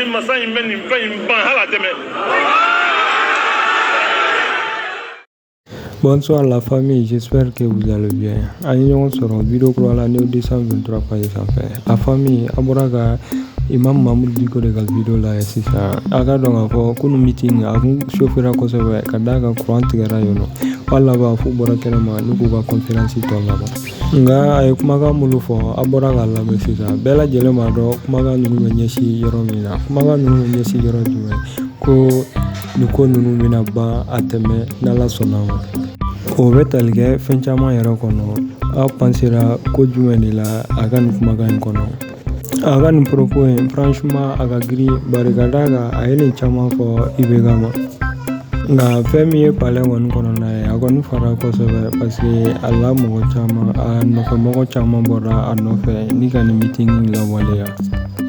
walahi masa in bɛ nin fɛn in ban hali a tɛmɛ. Bonsoir la famille, j'espère que vous allez bien. An ye ɲɔgɔn sɔrɔ video kura la New 223 page sanfɛ. La famille, an bɔra ka Imam Mahmoud Diko de ka video lajɛ sisan. A ka dɔn k'a fɔ kunu meeting a kun chauffera kosɛbɛ ka d'a kan courant tigɛra yen nɔ. W'a laban f'u bɔra kɛnɛma ni k'u ka conférence tɔ laban. Nka a ye kumakan minnu fɔ an bɔra k'a lamɛn sisan bɛɛ lajɛlen b'a dɔn kumakan ninnu bɛ ɲɛsin yɔrɔ min na kumakan ninnu bɛ ɲɛsin yɔrɔ jumɛn ko nin ko ninnu bɛna ban a tɛmɛ n'ala sɔnna ma o bɛ tali kɛ fɛn caman yɛrɛ kɔnɔ aw pensera ko jumɛn de la a ka nin kumakan in kɔnɔ a ka nin propos in franchement a ka girin bari ka d'a kan a ye nin caman fɔ IBK ma nka fɛn min ye palais kɔni kɔnɔna ye a kɔni fara kosɛbɛ parce que a la mɔgɔ caman a nɔfɛmɔgɔ caman bɔra a nɔfɛ ni ka nin meeting in lawaleya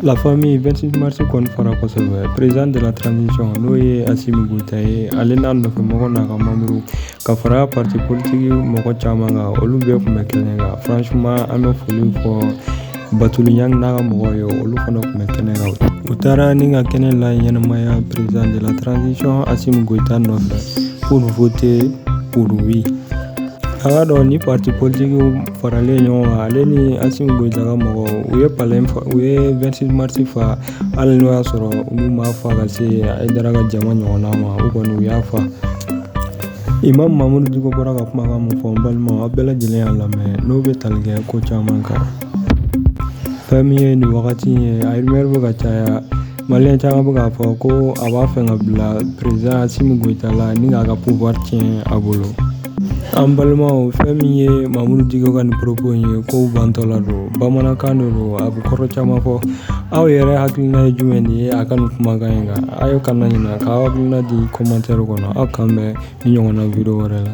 la famille 26 mars kɔni fara kosɛbɛ président de la transition n'o ye Assimi Goïta ye ale n'a nɔfɛmɔgɔ n'a ka membre ka fara parti politique mɔgɔ caman kan olu bɛɛ tun bɛ kɛnɛ kan franchement an bɛ foli fɔ Batouly Niane n'a ka mɔgɔw ye olu fana tun bɛ kɛnɛ kan u taara ni ka kɛnɛ laɲɛnamaya président de la transition Assimi Goïta nɔfɛ pour voter pour oui a ka dɔn ni parti politique faralen ɲɔgɔn kan ale ni Assimi Goïta ka mɔgɔw u ye palais u ye 26 mars fa hali n'o y'a sɔrɔ olu m'a fa ka se Haïdara ka jama ɲɔgɔnna ma u kɔni u y'a fa Imam Mahmoud Diko bɔra ka kumakan mun fɔ n balima aw bɛɛ lajɛlen y'a lamɛn n'o bɛ tali kɛ ko caman kan fɛn min ye nin wagati ye a rumeur bɛ ka caya maliyɛn caman bɛ k'a fɔ ko a b'a fɛ ka bila président Assimi Goïta la ni k'a ka pouvoir tiɲɛ a bolo An balimaw fɛn min ye Mahmoud Diko ka nin propos in ye ko bantɔla don bamanankan de don a bɛ kɔrɔ caman fɔ aw yɛrɛ hakilina ye jumɛn de ye a ka nin kumakan in kan aw ye kana ɲina k'aw hakilina di commentaire kɔnɔ aw k'an bɛn ni ɲɔgɔnna video wɛrɛ la